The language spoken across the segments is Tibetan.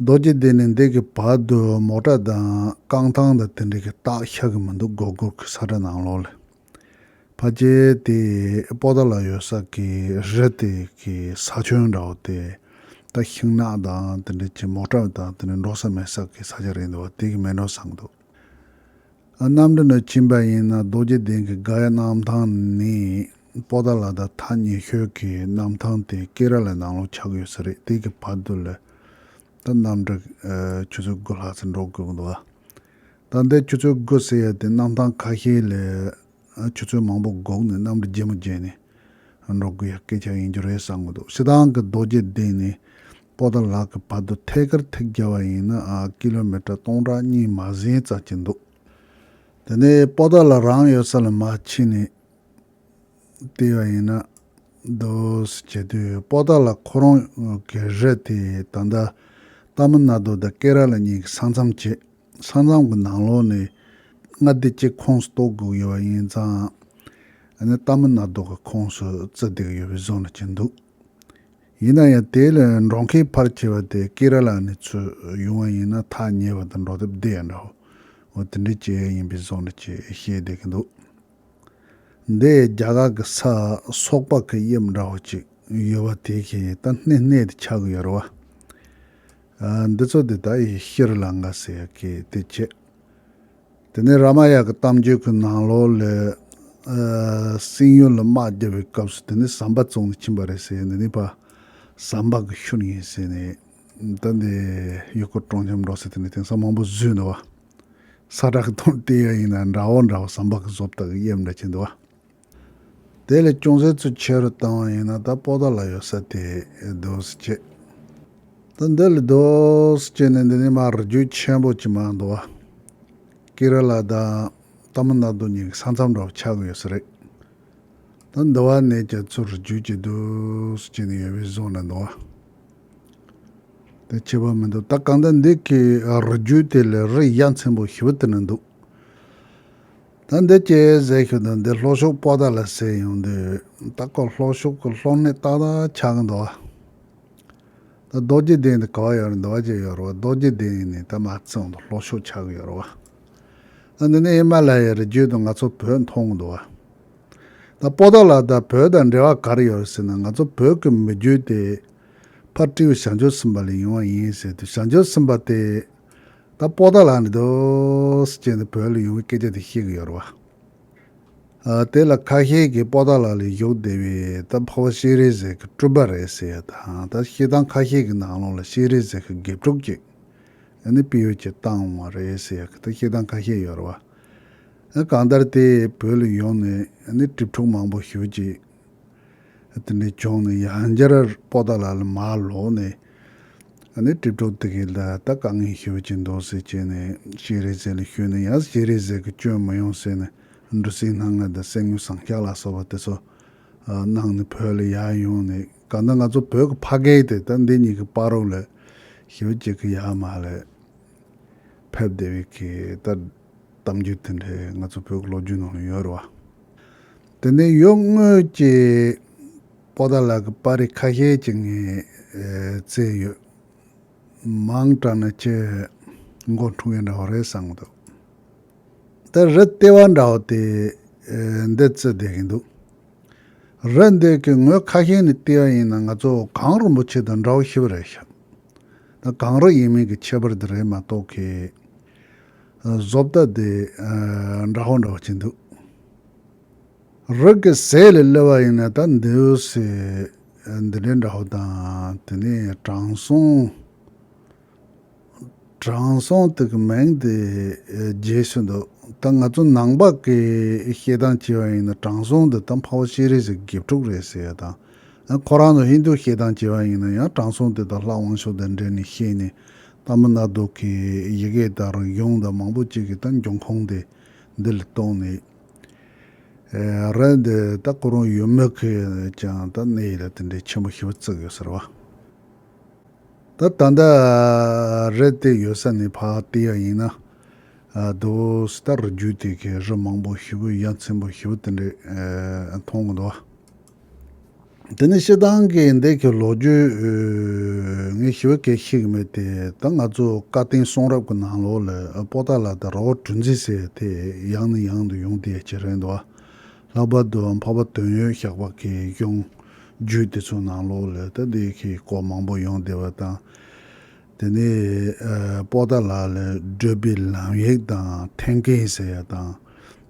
རྡོ་རྗེ་གདན་ནས་འདེགས་ཀྱི་བར་དུ་མོ་བྲ་དང་རྐང་ཐང་དང་དེ་འདྲ་གི་རྟགས་ཤར་གི་མི་འདུག་སྒོར་སྒོར་གི་ས་གྲ་ནང་ལོགས་ལས། ཕ་རྗེ་དེ་སྤོ་ད་ལ་ཡོད་ས་གི་རི་དེ་གི་ས་ཁྱོན་འདྲ་བོ་དེ་ད་ཤིང་ནགས་དང་དེ་འདྲ་གྱི་མོ་བྲ་དང་དེ་འདྲ་འགྲོ་ས་མེད་ས་གི་ས་ཆ་རེད་འདུག་བ་དེ་གི་མེ་འགྲོ་སང་འདུག། རྣམ་འདྲེན་ལ་ཕྱིན་པ་ཡིན་ན་རྡོ་རྗེ་གདན་གྱི་དགའ་ཡི་གནམ་ཐང་ནི་པོ་ཏཱ་ལ་དང་ཐ་སྙད་ཤོད་ཀྱི་གནམ་ཐང་དེ་སྐེ་རགས་ལས་ནང་ལོགས་ཆགས་ཀྱི་ཡོད་ས་རེད་དེ་གི་བར་དུ་ལས་ད་གནམ་གྲུ་ཆུ་ཚོད་དགུ་ལྷག་ཙམ་འགྲོ་དགོས་གི་འདུག་ད་ལྟའི་ཆུ་ཚོད་དགུ་ཟེར་ཡ་དེ་གནམ་ཐང་ཁ་ཤས་ལས་ཆུ་ཚོད་མང་པོ་སྒུག་ནས་གནམ་གྲུ་རྗེས་མ་བརྗེས་ནས་འགྲོ་དགོས་ཡ་སྐད་ཆ་ཡིན་རྒྱུ་རེད་བསམ་གི་འདུག་སི་ཏང་གི་རྡོ་རྗེ་གདན་ནི་པོ་དང་ལག་གི་བར་དུ་ཐད་ཀར་ཐིག་བརྒྱབ་པ་ཡིན་ན་ཀི་ལོ་མི་ཀྲ་སྟོང་ཕྲག་གཉིས་མ་ཟིན་བཙལ་གྱི་འདུག་དེ་ནས་པོ་ཏཱ་ལགས་རང་ཡོད་ས་ལ་མ་ཕྱིན་ནས་བལྟས་པ་ཡིན་ན། སྡོད་གཟིགས་བྱེད་དུས་པོ་ཏཱ་ལགས་ཁོ་རང་གི་རི་དེ་ད་ལྟ་རྟ་མི་ན་རྡོ་དང་ཀེ་ར་ལ་གཉིས་ཀྱི་ས་མཚམས་བྱེད། ས་མཚམས་ཀྱི་ནང་ལོགས་ནས་མངའ་སྡེ་གཅིག་ཁོངས་སུ་གཏོགས་དགོས་ཡོད་པ་ཡིན་ཙང། རྟ་མི་ན་རྡོ་གི་ཁོངས་སུ་བརྩི་བསྡད་ཡོད་པའི་བཟོ་ལ་གྱིན་འདུག་ཡིན་ན་ཡང་དེའི་ལས་འབྲོང་ཁའི་ཕར་ཁྱེར་བ་དེ་ཀེ་ར་ལ་ནས་ཚུར་ཡོང་བ་ཡིན་ན་ཐག་ཉེ་བ་དང་འགྲོ་དེབ་བདེ་ཡང་འདྲའོ། འོ་དེ་འདྲའི་བྱེད་ཡས་ཡིན་པའི་བཟོ་འདྲ་ཅེས་བཤད་བསྡད་ཀྱི་འདུག་འདི་རྒྱ་གར་གྱི་ས་སོག་པག་གི་དབྱིབས་འདྲ་བོ་ཅིག་ཡོད་པ་དེ་གས་ད་སྣེ་སྣེ་དེ་ཆགས་ཀྱི་ཡོད་རེད་བ། འདི་ཚོ་དེ་ད་ཡི་ཤི་རི་ལང་ག་ཟེར་ཡ་གས་དེ་བྱེད། དེ་ནས་ར་མ་ཡཱ་གི་གཏམ་རྒྱུད་ཀྱི་ནང་ལོགས་ལས། སིང་ཡོལ་ལ་དམག་རྒྱག་པའི་སྐབས་སུ་དེ་ནི་ཟམ་པ་བཙོང་ནས་ཕྱིན་པ་རེད་ཟེར་འདི་ནི་པ་ཟམ་པ་གི་ཤུལ་ཡིན་ཟེར་ནས། ད་ནི་ཡུལ་སྐོར་སྤྲོ་འཆམ་འགྲོ་ཟེར་དེ་ནི་དེང་སང་མང་པོ་བཟོས་འདུག་བ། ས་བསྒྲགས་གཏོང་ལྟས་ཡག་ཡིན་ན་འདྲ་བོ་འདྲ་བོ་ཟམ་པ་གི་བཟོ་ལྟ་གི་དབྱིབས་འདྲ་ཅན་འདུག་བ། དེ་ལས་ཅུང་ཟད་ཚུལ་ཆེ་རུ་བཏང་བ་ཡིན་ན་ད་སྤོ་ད་ལ་ཡོད་ས་དེ་རྡོས་བྱེད། ད་འདི་ལ་རྡོས་བྱེད་ནི་འདི་ནི་མར་རྒྱུས་ཆེན་པོ་ཅི་མ་འདུག་བ། ཀི་ར་ལ་ད་ལྟ་མི་སྣ་དོ་གཉིས་ཀྱི་ས་མཚམས་འདྲ་བོ་ཆགས་ཀྱི་ཡོད་ས་རེད། ད་འདི་བ་ནས་ཀྱང་ཚུར་རྒྱུས་ཀྱི་རྡོས་བྱེད་ནི་ཡོད་བའི་བཟོ་ན་འདུག་བ། དེ་ཆེ་བ་མི་འདུག་ད་གང་ལྟར་འདི་གི་རྒྱུས་དེ་ལས་རི་གཡའ་མཚན་པོ་ཞིག་བུད་དེ་ན་འདུག། ད་འདི་སྐྱེས་ཟེར་ཤོག་དང་འདི་ལྷོ་ཕྱོགས་སྤོ་ད་ལ་ཟེར་ཡོང་དུས་ད་ཁོ་ལྷོ་ཕྱོགས་ཀྱི་ལྷོ་མི་ཏག་ཏག་ཆགས་ཀྱི་འདུག་ད་རྡོ་རྗེ་གདན་དུ་ག་བ་ཡོད་རེད་འདུག་བ་ཅི་ཡོད་རེད་བ་རྡོ་རྗེ་གདན་ཡིན་ནའི་ད་མ་བརྩིས་འདུག་ལྷོ་ཕྱོགས་ཆགས་ཀྱི་ཡོད་རེད་བ་ད་འདི་ནི་ཧི་མ་ལ་ཡའི་རི་རྒྱུད་དུ་ང་ཚོ་བོད་མཐོང་གི་འདུག་བ་ད་སྤོ་ད་ལ་ད་བོད་དང་འབྲེལ་བ་ག་རེ་ཡོད་རེད་ཟེར་ན་ང་ཚོ་བོད་ཀྱི་མི་རྒྱུད་དེ་ཕར་སྤྲེའུ་ཞག་འཇོ་ཟིན་པ་ལས་ཡོང་བ་ཡིན་ཟེར་དུས་ཞག་འཇོ་ཟིན་པ་དེ་ད་སྤོ་ད་ལགས་ནས་འདུག་ཅེས་ནས་བོད་ལ་ཡོང་བའི་སྐད་ཆ་དེ་བཤད་གི་ཡོད་རེད་བ། དེ་ལ་ཁ་ཤས་ཀྱིས་སྤོ་ད་ལགས་ལས་བཞུགས་བདེ་བས་ད་ཕོ་བ་ཤེས་རིག་ཟེར་གི་སྤྲུལ་པ་རེད་ཟེར་ཡོད་དང་ད་ཤེས་དང་ཁ་ཤས་ཀྱི་ནང་ལོགས་ལ་ཤེས་རིག་ཟེར་གི་དགེ་ཕྲུག་ཅིག་ནི་པི་ཡོ་ཅིག་བཏང་བ་རེད་ཟེར་ཡོད་གི་ད་ཤེས་དང་ཁ་ཤས་ཡོད་རེད་བ། གང་ལྟར་དེས་བོད་ལ་ཡོང་ནས་ནི་གྲིབ་ཕྲུག་མང་པོ་བཞུགས་ཅིག། ཨ། དེ་ནས་བྱུང་ནས་ཡང་བསྐྱར་སྤོ་ད་ལ་ལ་མར་ལོག་ནས། ཨ་ནི་གྲིབ་གྲོག་དེ་གས་ད་ད་དཀའ་ངལ་ཤི་བ་ཅིག་འདུག་ཟེར་བྱས་ནས་ཤེས་རེ་ཟས་ལ་ཞུས་ནས་ཡང་ཤེས་རེ་ཟས་ཀྱི་སྐྱོན་མི་ཡོང་ཟེར་ནས་འབྲུ་སྲིན་སྣ་ལྔ་དང་སེན་མོའི་ཟངས་ཤ་ལ་སོགས་པ་དེ་ཚོ་གནང་ནས་བོད་ལ་ཡར་ཡོང་ནས་གང་ལྟར་ང་ཚོ་བོད་ཀྱི་ཕ་སྐད་དེ་ད་འདི་གཉིས་ཀྱི་དཔའ་རོགས་ལ་ཞི་བ་ཅིག་གི་ཡར་མར་ལ་ཕེབས་བདེ་བས་གས་ད། གཏམ་རྒྱུད་དེ་འདྲ་ང་ཚོ་བོད་ཀྱི་ལོ་རྒྱུས་ནང་ལ་ཡོད་རེད་བ། དེ་ནས་ཡོད་དངོས་ཀྱི་པོ་ཏཱ་ལགས་ཀྱི་པར་རིས་ཁ་ཤས་ཀྱི་ངས་བཙལ་ཡོད། མང་དྲགས་ན་ཁྱི་མགོ་འཁྲུ་མཁན་འདྲ་བོ་རེད་བསམ་གྱི་འདུག་དེར་རི་ལྟེ་བ་འདྲ་བོ་དེ་འདི་བརྩི་བསྡད་ཀྱི་འདུག་རི་འདི་གི་ངོས་ཁ་ཤས་ནི་ལྟེ་བ་ཡིན་ན་ང་ཚོ་གངས་རིན་པོ་ཆེ་དང་འདྲ་བོ་ཤི་བ་རེད་ཤག་ད་གངས་རི་ཡིན་མིན་གྱི་ཁྱད་པར་དེ་རེད་མ་གཏོགས་ཁྱི་བཟོ་ལྟ་དེ་འདྲ་ཧོ་འདྲ་བ་བྱེད་འདུག། རིགས་ཀྱི་ཟས་ལས་སླེ་བ་ཡིན་ན་ད་འདིའུ་སེ་འདི་འདྲའི་འདྲ་ཧོ་དང་དེ་ནས་དྲང་སྲོང། དྲང་སྲོང་དེ་གི་མིང་དེ་རྒྱས་སུ་འདུག་ད་ང་ཚོ་ནང་པ་གི་ཤེས་སྟངས་སྐྱེ་བ་ཡིན་ན་དྲང་སྲོང་དེ་ད་འཕགས་བོ་ཤེས་རིག་ཟེར་དགེ་ཕྲུག་རེད་ཟེར་ཡ་དང། ཁོ་རང་ཚོ་ཧིན་དུ་ཤེས་སྟངས་སྐྱེ་བ་ཡིན་ན་ཡང་དྲང་སྲོང་དེ་ད་ལྷ་དབང་ཕྱོགས་དེ་འདྲས་ནས་ཤེས་ནས་ལྷ་མོ་ནག་དུག་གི་ཡི་གེ་དང་རིག་གཞུང་དང་མང་པོ་ཅིག་གི་སྟེང་འབྱུང་ཁུངས་དེ་འདི་ལ་གཏོགས་ནས། རེད་འདི་ད་ཁོ་རང་ཡུལ་མི་གིས་ཀྱང་ད་གནས་ཡིད་ལ་དེ་འདྲའི་ཆེན་པོ་ཞིག་བརྩིགས་ཡོད་ཟེར་བ། ད་ད་ལྟ་རེད་དེ་ཡོད་ས་ནས་ཕར་བལྟས་ཡ་ཡིན་ན། དུ་སི་ད་རི་རྒྱུད་དེ་གའི་རི་མང་པོ་ཞིག་གི་ཡ་མཚན་པོ་ཞིག་དེ་འདྲས་མཐོང་གི་འདུག་བ། དེ་ནི་ཤེལ་ཐང་གི་འདས་ཀྱི་ལོ་རྒྱུས། ངས་ཞི་བ་གས་ཤེས་ཀྱི་མེད་དེ། ད་ང་ཚོ་བཀའ་བསྟན་གསུང་རབ་ཀྱི་ནང་ལོགས་ལ་པོ་ཏཱ་ལ་དང་ར་བ་གྲུ་འཛིན་ཟེར་དེ་ཡང་ནས་ཡང་དུ་ཡོང་དེ་ཇེ་རེང་དུ་བ། ལྷག་པར་དུ་འཕགས་པ་དོན་ཡོད་ཞགས་པ་གས་གཞུང་རྒྱུད་དེ་ཚོ་ནང་ལོགས་ལ་ད་དེ་གས་སྐོར་མང་པོ་ཡོང་དེ་བ་དང། དེ་ནས་པོ་ཏཱ་ལ་ལ་བགྲོད་པའི་ལམ་ཡིག་དང་ཐན་ཀེན་ཟེར་ཡ་དང།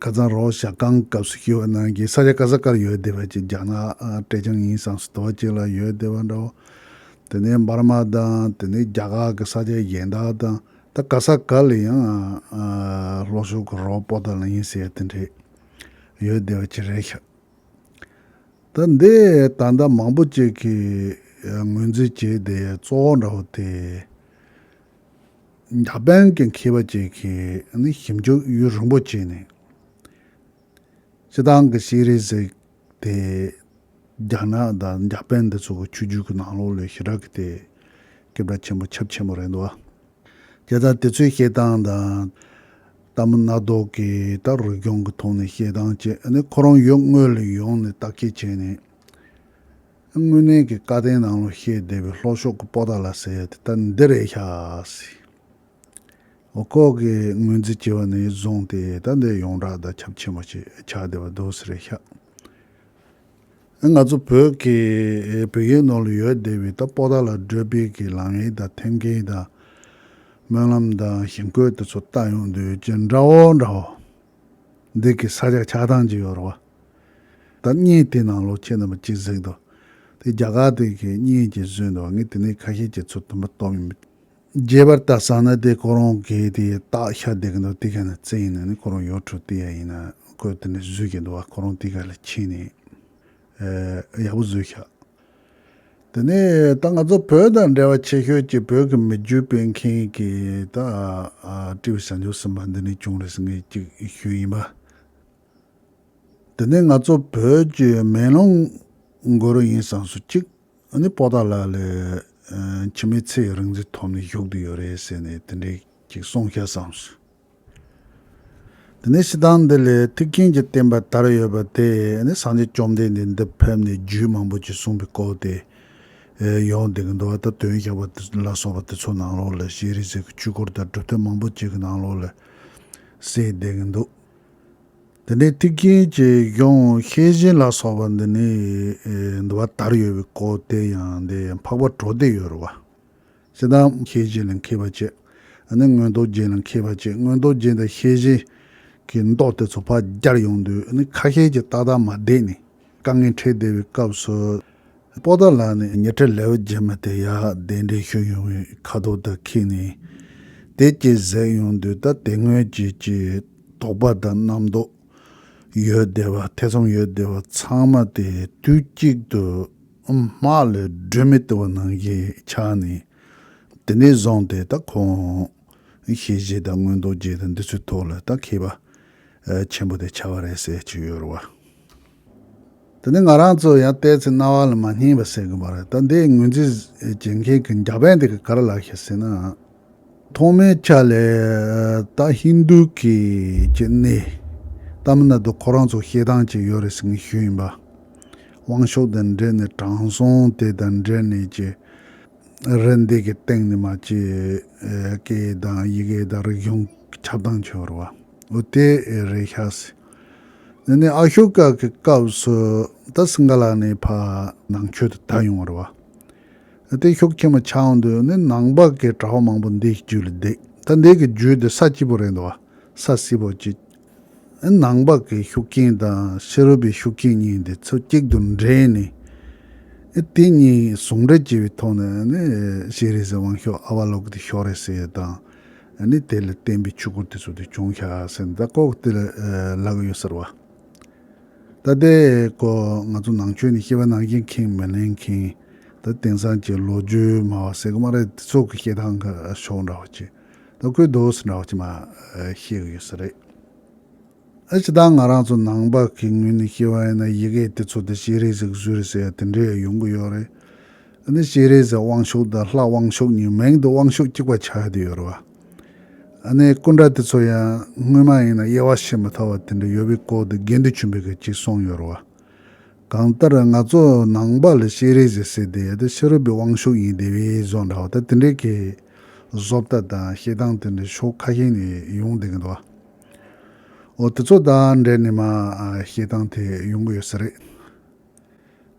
ཁ་ཚང་རོགས་ཞག་རྐང་སྐབས་སུ་ཤི་བ་རྣམས་ཀྱི་ས་ཆ་ཀ་ས་ཀར་ཡོད་བསྡད་པ་ཅིག་རྒྱ་ནག་ཀྲེ་ཅང་ཡིན་སང་སི་ཏོ་ཅིག་ལ་ཡོད་བསྡད་པ་འདྲ་བོ། དེ་ནས་འབར་མ་དང་དེ་ནས་རྒྱ་གར་གྱི་ས་ཆ་གཞན་དག་དང་ད་ཀ་ས་ཀ་ལ་ཡང་ལྷོ་ཕྱོགས་ཀྱི་རོགས་པོ་དག་ལ་ཡིན་ཟེར་དེ་འདྲས་ཡོད་བསྡད་པ་ཅིག་རེད་ཤག། ད་འདི་ད་ལྟ་མང་པོ་ཅིག་གིས་ངོས་འཛིན་བྱས་བསྡད་གཙོ་བོ་འདྲ་བོ་དེ། འཇར་པན་གྱི་མཁས་པ་གཅིག་གིས་ནི་ཞིབ་འཇུག་ཡུན་རིང་པོ་བྱས་ནས། སྤྱི་བཏང་གི་ཤེས་རིག་ཟེར་དེ་རྒྱ་ནག་དང་འཇར་པན་འདི་ཚོ་གི་ཆོས་བརྒྱུད་ཀྱི་ནང་ལོགས་ལས་ཞི་དྲག་གི་སྟེ། སྐད་བརྡ་ཆེན་པོ་ཁྱབ་ཆེན་པོ་རེད་འདུག་བ། དེ་དག་དེ་ཚོའི་བཤད་སྟངས་དང། ལྟ་མི་སྣ་ལྡོག་གི་དག་རིག་སྦྱོང་གི་ཐོག་ནས་བཤད་སྟངས་བཅས་ནི་ཁོ་རང་ཡུལ་དངོས་ལ་ཡོང་ནས་བརྟག་དཔྱད་བྱས་ནས། དངོས་གནས་ཀྱི་བཀའ་བསྟན་ནང་ལོ་ཤས་སྡེ་བའི་ལྷོ་ཕྱོགས་ཀྱི་སྤོ་ད་ལ་ཟེར་ཡ་དེ་ད་འདི་རེད་ཤག་སི། འོ་ཁོག་གི་ངོས་འཛིན་བྱེད་པ་ནི་བཟུང་སྟེ་ད་འདི་ཡོངས་གྲགས་བརྡ་ཁྱབ་ཆེན་པོ་ཞིག་ཆགས་བསྡད་པ་འདུག་སི་རེད་ཤག་སི། ང་ཚོ་བོད་ཀྱི་བོད་ཡིག་ནང་ལོ་ཡོད་སྡེ་བའི་ད་སྤོ་ད་ལ་བགྲོད་སྤེལ་གྱི་ལམ་ཡིག་དང་ཐེམ་སྐས་དང། སྨོན་ལམ་དང་ཞིང་བཀོད་དེ་ཚོ་བཏགས་ཡོང་དུས་ཇི་འདྲ་བོ་འདྲ་བོ། འདི་གི་ས་ཆ་ཆགས་སྡང་གི་ཡོ་རོ་བ་དང་གཉིས་དེ་ནང་ལོ་ཁྱེད་རྣམ་པ་གཅིག་གཟིགས་དོ། དེ་རྒྱ་གར་དེ་གི་གཉིས་ཀྱི་བཟོས་འདུག་ངས་དེ་ནས་ཁ་ཤས་ཀྱི་ཚུལ་དུ་མི་སྟོན་མི། རྒྱས་པར་བལྟ་བསམ་ན་དེ་ཁོ་རང་གི་དེ་རྟགས་ཤ་བསྡད་ཀྱི་འདུག་དེ་ག་ནས་བཙལ་ཡིན་ནའི་ཁོ་རང་ཡོ་ཁྲུ་ཏི་ཡ་ཡིན་ནའི་གོས་དེ་ནས་བཟོས་ཀྱི་འདུག་ཁོ་རང་དེ་ག་ལས་ཁྱེད་ནས་ཡག་པོ་བཟོས་ཤག། དེ་ནས་ད་ང་ཚོ་བོད་དང་འབྲེལ་བ་ཆེ་ཤོས་ཀྱི་བོད་ཀྱི་མི་རྒྱུད་སྤེལ་མཁན་གྱི་ད་ཀྲི་བྱ་འཇུག་ཟིན་པ་འདི་ནས་བྱུང་རེད་ཟེར་མཁན་གཅིག་ཤོས་ཡིན་པ། དེ་ནས་ང་ཚོ་བོད་ཀྱི་མེ་ལོང་མགོ་རུ་ཡིན་བསམས་སུ་གཅིག་ནི་སྤོ་སྟག་ལགས་ལས་ཕྱི་མི་ཚེ་ཡི་རིང་འཛིན་ཐོབ་ནས་བཞུགས་དུ་ཡོད་རེད་ཟེར་ནས་དེ་འདྲའི་གཅིག་གསུང་ཤ་བསམས་སོ། དེ་ནས་ཕྱི་དང་འདི་ལས་ཐེག་ཆེན་གྱི་བསྟན་པ་དར་ཡོད་པ་དེ་ནི་སངས་རྒྱས་བཅོམ་ལྡན་འདས་འདི་ཕེབས་ནས་རྒྱུད་མང་པོ་ཅིག་གསུངས་པའི་སྐོར་ཏེ། ཡོངས་འདི་གི་འགྲོ་བ་དང་དོན་བྱ་བ་ལ་སོགས་པ་དེ་ཚོ་ནང་ལོགས་ལ་ཤེས་རིག་ཟེར་གྱི་བཅུད་སྐོར་དང་གྲུབ་མཐའ་མང་པོ་ཅིག་གི་ནང་ལོགས་ལ་གསལ་བསྡད་ཀྱི་འདུག་དེ་ནས་ཐེག་ཆེན་གྱི་གཞུང་ཤེས་བཞིན་ལ་སོགས་པ་འདི་ནི་འདུལ་བ་དར་ཡོད་པའི་སྐོར་དེ་ཡང་འདི་འཕགས་པ་གྲོ་སྡེ་ཡོད་རུ་བ། གསལ་དྭངས་ཤེས་བཞིན་ལ་མཁས་པ་བཅས་ནི་མངོན་རྟོགས་རྒྱན་ལ་མཁས་པ་བཅས་མངོན་རྟོགས་རྒྱན་དང་ཤེས་བཞིན་གྱི་མདོ་དེ་ཚོ་ཕར་རྒྱར་ཡོང་དུས་ནི་ཁ་ཤས་ཀྱིས་ཏག་ཏག་མ་བསྡད་ནས་དཀའ་ངལ་འཕྲད་བསྡད་པའི་སྐབས་སུ། པོ་ཏཱ་ལ་ནི་ཉི་ཁྲི་ལེ་བརྒྱད་མ་དེ་ཡར་ལྡན་འགྲེལ་བཤད་ཡོང་བའི་ཁ་དོག་དག་ཁེགས་ནས་དེ་སྐྱེས་ཟད་ཡོང་དུས་ད་དེ་སྔོན་བྱས་ཀྱི་དོགས་པ་དང་རྣམ་རྟོག་ཡོད་བསྡད་པ་ཐེ་ཚོམ་ཡོད་བསྡད་པ་ཚང་མ་དེ་དུས་གཅིག་ཏུ་དམག་ལས་སྒྲོལ་མའི་ལྟེ་བ་ནང་གི་ཕྱག་ནི། དེ་ནས་བཟུང་སྟེ་ད་ཁོང། ཞེས་བཞེད་དང་མངོན་རྟོགས་བརྒྱད་དང་འདི་ཚོའི་ཐོག་ལ་ད་མཁས་པ། ཆེན་པོ་དེ་བྱ་བ་རེད་ཟེར་གྱི་ཡོད་རེད་བ། དེ་ནི་ང་རང་ཚོ་ཡང་བལྟས་ཚེ་རྣ་བ་ལ་མ་སྙིང་བ་ཟེར་གི་མ་རེད་ད་འདིའི་ངོས་འཛིན་བྱེད་མཁན་གྱི་འཇར་པན་དེ་ག་རེ་ལགས་ཤེ་ཟེར་ན། ཐོག་མའི་ཆ་ལས་ད་ཧིན་དུ་གི་ཀྱི་གནས་སྟ་མི་ན་དུ་ཁོ་རང་ཚོ་ཤེས་སྟངས་ཅིག་ཡོད་རེད་ཟེར་མཁན་ཞུ་ཡིན་པ། དབང་ཤོག་དང་འབྲེལ་ནས་དྲང་སྲོང་དེ་དང་འབྲེལ་ནས་ཀྱི་རེད་འདི་གི་སྟེང་ནས་མ་ཀྱི་སྐད་དང་ཡི་གེ་དང་རིག་གཞུང་ཁྱབ་སྟངས་ཆེ་བར་བ་འོ་དེ་རེད་ཤ་ཟེར། དེ་ནས་ཨ་ཤོ་ཀ་གི་སྐབས་སུ་ད་སིངྒ་ལ་ནས་ཕ་ནང་ཆོས་དུ་ད་ཡོང་བར་བ། བརྟན་ཤོག་ཁྱེད་མ་ཆགས་འདོད་ནི་ནང་པ་གའི་གྲྭ་བ་མང་པོ་འདི་ཞིག་རྒྱུད་ལ་བརྡེགས་ད་འདི་གི་རྒྱུད་དེ་ས་སྐྱིད་པོ་རེད་འདུག་བ་ས་བསིལ་པོ་གཅིག་ཨེ་ནང་པ་གའི་ཤུགས་རྐྱེན་དང་ཕྱི་རོལ་པའི་ཤུགས་རྐྱེན་གཉིས་འདི་ཚོ་གཅིག་ཏུ་འདྲེས་ནས་ཨེ་དེ་གཉིས་ཟུང་འབྲེལ་བྱས་པའི་ཐོག་ནས་ནི་ཤེས་རིག་ཟེར་དབང་ཤོག་ཨ་བ་ལོག་གི་དེ་ཤོག་རེད་ཟེར་དང་ནི་དེ་ལ་བརྟེན་པའི་ཆུ་བུར་དེ་ཚོ་དེ་བྱུང་ཤག་ཟེར་ནས་ད་ལྐོག་དེ་ལ་ལག་ཡོད་ཟེར་བ། ད་ལྟའི་སྐོར་ང་ཚོ་ནང་ཆོས་ནི་སྐྱེ་བ་ནང་བཞིན་ཁེངས་མི་ལེན་ཁེངས། ད་དེང་སང་ཀྱི་ལོ་རྒྱུས་སྨྲ་བ་ཟེར་གི་མ་རེད་དེ་ཚོ་གི་བཤད་སྟངས་ཁ་ཕྱོགས་འདྲ་བ་གཅིག་ད་སྐུལ་དོགས་སུ་འདྲ་བ་གཅིག་མ་ཤེས་གི་ཡོད་ས་རེད། ཨ་ཅེ་ད་ང་རང་ཚོ་ནང་པ་གི་ངོས་ནས་བཤད་བ་ཡིན་ན་ཡི་གེ་དེ་ཚོ་དེ་ཤེས་རིག་ཟེར་གི་བཟོས་རེད་ཟེར་ཡ་དེ་འདྲས་ཡོང་གི་ཡོད་རེད། ཨ་ནི་ཤེས་རིག་ཟེར་དབང་ཤུགས་དང་ལྷག་དབང་ཤུགས་གཉིས་མིང་དུ་དབང་ཤུགས་གཅིག་པ་ཆགས་ཡོད་དུ་ཡོད་རེད་བ། ཨ་ནེ་སྐུ་འདྲ་དེ་ཚོ་ཡང་སྔོན་མ་ཡིན་ན་དབྱེ་བ་ཕྱེ་མི་ཐུབ་བ་དེ་འདྲ་ཡོད་པའི་སྐོར་དུ་དགེ་འདུན་ཆེན་པོས་ག་ཅིག་གསུངས་ཡོད་རོ། གང་ལྟར་ང་ཚོ་ནང་པ་ལ་ཤེས་རིག་ཟེར་སྲིད་དེ་དེ་ཕྱི་རོལ་པའི་དབང་ཤུགས་ཡིན་དེ་བས་བཟོ་འདྲ་བ་ད་དེ་འདྲའི་གི་བཟོ་ལྟ་དང་ཤེས་སྟངས་དེ་འདྲ་ཕྱོགས་ཁ་ཤས་ནས་ཡོང་བསྡད་གི་འདུག་བ། འོ་དེ་ཚོ་དང་འབྲེལ་ནས་མ་ཤེས་སྟངས་དེ་ཡོང་གི་ཡོད་ས་རེད།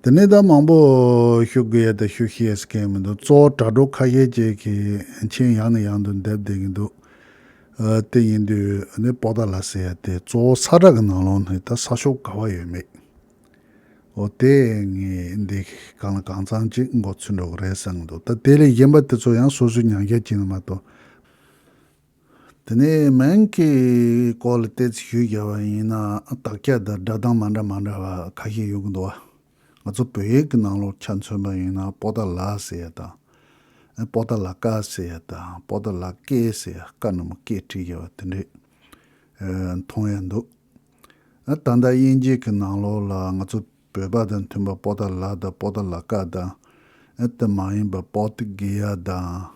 དེ་ནས་ད་མང་པོ་ཞུ་དགོས་ཡ་ད་ཞུ་ཤེས་ཀྱི་མི་འདུག་གཙོ་བོ་དྲ་གྲོགས་ཁ་ཤས་ཀྱིས་གིས་མཆན་ཡང་ནས་ཡང་དུ་འདེབས་བསྡད་ཀྱི་འདུག་དེ་ཡིན་དུས་ནས་པོ་ཏཱ་ལ་ཟེར་ཡ་དེ་གཙོ་བོ་ས་བསྒྲགས་ཀྱི་ནང་ལོང་ནས་ད་ས་ཤོག་ག་བ་ཡོད་མེད་འོ་དེ་ངས་འདི་གང་ལ་གང་ཚང་ཅིག་མགོ་ཚུད་འགྲོ་གི་རེད་བསམ་གྱི་འདུག་ད་དེ་ལས་གཞན་པ་དེ་ཚོ་ཡང་སོ་སོའི་མྱང་བྱ་བྱེད་ནི་མ་གཏོགས། དེ་ནས་མན་གྱི་སྐོར་ལ་བལྟས་ཚེ་ཞུས་རྒྱ་བ་ཡིན་ན་དག་སྐྱ་དང་སྒྲ་གདངས་མ་འདྲ་མ་འདྲ་བ་ཁ་ཤས་ཡོད་ཀྱི་འདུག་བ། ང་ཚོ་བོད་ཡིག་གི་ནང་ལོག་ཆ་མཚོན་པ་ཡིན་ན་པོ་ཏཱ་ལ་ཟེར་ཡ་དང། པོ་ཏཱ་ལ་ཀ་ཟེར་ཡ་དང་པོ་ཏཱ་ལ་ཀེ་ཟེར་ཡ་ཀ་ནི་མོ་ཀེ་བྲིས་རྒྱ་བ་དེ་འདྲས་མཐོང་ཡ་འདུག་ད་ལྟ་དབྱིན་ཇི་གི་ནང་ལོག་ལ་ང་ཚོ་བོད་པ་དང་མཐུན་པ་པོ་ཏཱ་ལ་དང་པོ་ཏཱ་ལ་ཀ་དང་དེ་མ་ཡིན་པ་པོ་ཏི་གི་ཡ་དང་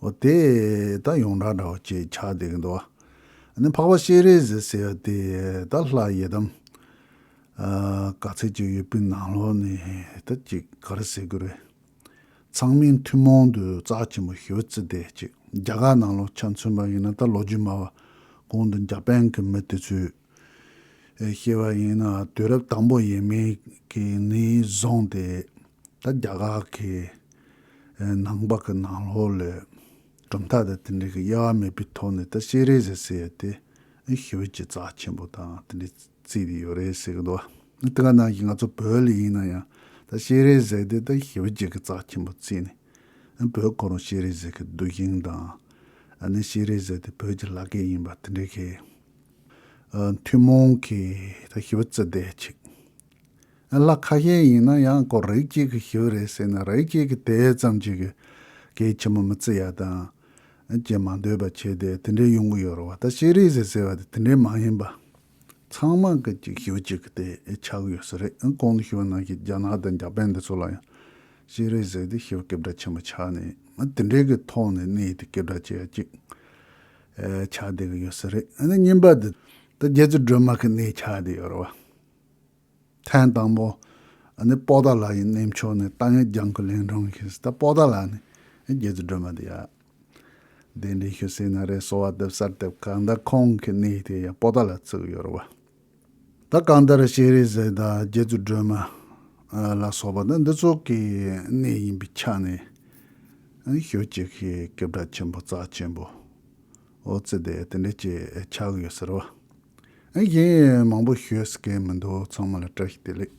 འོ་དེ་ད་ཡོངས་གྲགས་འདྲ་བ་ཅིག་ཆགས་བསྡད་ཀྱི་འདུག་ཨ་ནི་འཕགས་པ་ཤེས་རིག་ཟེར་ཟེར་བ་དེ་ད་ལྷ་ཡི་དམ། ག་ཚད་ཅིག་ཡོད་པའི་ནང་ལོགས་ནས་ད་ཅིག་ག་རེ་ཟེར་དགོས་རེད། ཚང་མས་ཐུན་མོང་དུ་རྩག་ཆེན་པོ་ཞུ་རྩིས་བསྡད་ཅིག་རྒྱ་གར་ནང་ལོགས་ཆ་མཚོན་པ་ཡིན་ན་ད་ལོ་རྒྱུས་སྨྲ་བ་གོང་དུ་འཇའ་པན་གྱི་མི་དེ་ཚོས་ཤེས་པ་ཡིན་ན་དུས་རབས་དང་པོ་ཡིན་མིན་གྱི་ནི་བཟུང་སྟེ། ད་རྒྱ་གར་གྱི་ནང་པ་གི་ནང་ལོགས་ལས་གྲུབ་མཐའ་དང་དེ་འབྲེལ་གྱི་དབྱེ་བ་མེད་པའི་ཐོག་ནས་ད་ཤེས་རིག་ཟེར་སྲིད་ཡོད་དེ། ཤེས་བྱེད་རྩ་ཆེན་པོ་དང་དེ་འདྲའི་རྩིས་དེ་ཡོད་རེད་ཟེར་གྱི་འདུག་བ། དེ་ག་ནང་བཞིན་ང་ཚོ་བོད་ལ་ཡིན་ན་ཡང་ད་ཤེས་རིག་ཟེར་དེ་ད་ཤེས་བྱེད་ཀྱི་རྩ་ཆེན་པོ་བརྩིས་ནས། བོད་ཁོ་རང་ཤེས་རིག་ཟེར་གྱི་འདུག་ཤིང་དང། ནི་ཤེས་རིག་ཟེར་དེ་བོད་ཀྱི་ལག་སྐད་ཡིན་པ་དེ་འདྲའི་གི། ཐུན་མོང་གི་ཞི་བ་རྩི་བདེ་ཆིག་ལ་ཁ་ཤས་ཡིན་ན་ཡང་དགོས་རིགས་གཅིག་གི་ཞི་བ་རེད་ཟེར་ན་རིགས་གཅིག་གི་དེ་ཙམ་གཅིག་གིས་གལ་ཆེན་པོ་མི་རྩི་ཡ་དང། ཅེས་མ་འདོད་པ་བྱས་ཏེ་དེ་འདྲའི་ཡོང་གི་ཡོད་རེད་བ་ད་ཤེས་རིག་ཟེར་ཟེར་བ་དེ་དེ་འདྲའི་མ་ཡིན་པ། ཚང་མ་གི་གཅིག་ཞི་བ་གཅིག་གི་དེ་ཆགས་གི་ཡོད་ས་རེད་གོང་དུ་ཞི་བ་ནང་གི་རྒྱ་ནག་དང་འཇའ་པན་དེ་ཚོ་ལ་ཡང་ཤེས་རིག་ཟེར་ཏེ་ཞི་བ་སྐད་བརྡ་ཆེན་པོ་ཆགས་ནས་དེ་འདྲའི་གི་ཐོག་ནས་གནས་དེ་སྐད་བརྡ་བྱས་ཡ་གཅིག་ཆགས་བསྡད་ཀྱི་ཡོད་ས་རེད་ཨ་ནི་ཉིན་པ་འདི་ད་རྒྱལ་རྩེ་སྒྲོལ་མ་གི་གནས་ཆགས་བསྡད་ཡོད་རེད་བ། ཐེངས་དང་པོ་ཨ་ནི་དཔོག་ཟླ་ལགས་ཡི་གནས་མཆོག་ནས་ཏང་ཡོན་རྒྱང་ཁུ་ལེན་གྲོང་གི་ད་དཔོག་ཟླ་ལགས་ནི་ཨ་རྒྱལ་རྩེ་སྒྲོལ་མ་འདི་ཡ། གདན་འདྲེན་ཞུ་སེ་ན་རེད་གསོལ་བ་འདེབས་སར་དེབ་གང་ད་ཁོང་གི་གནས་དེ་ཡ་དཔོག་ཟླ་ལ་བཙུགས་ཡོད་རེད་བ། ད་གང་ལྟར་སྤྱན་རས་གཟིགས་དང་རྗེ་བཙུན་སྒྲོལ་མ། ལ་སོགས་པ་ནི་འདི་ཚོགས་ཀྱི་གནས་ཡིན་པའི་ཆ་ནས། ཞོལ་གྱི་སྐྱེ་བྲག་ཆེན་པོ་རྩ་ཆེན་པོ། ཨོ་རྩི་དེ་དེ་འདྲ་ཅེས་ཆགས་ཡོད་ཟེར་བ། གཞན་ཡང་མང་པོ་ཤོད་སྐལ་མི་འདུག་ཚང་མ་ལ་བཀྲ་ཤིས་བདེ་ལེགས།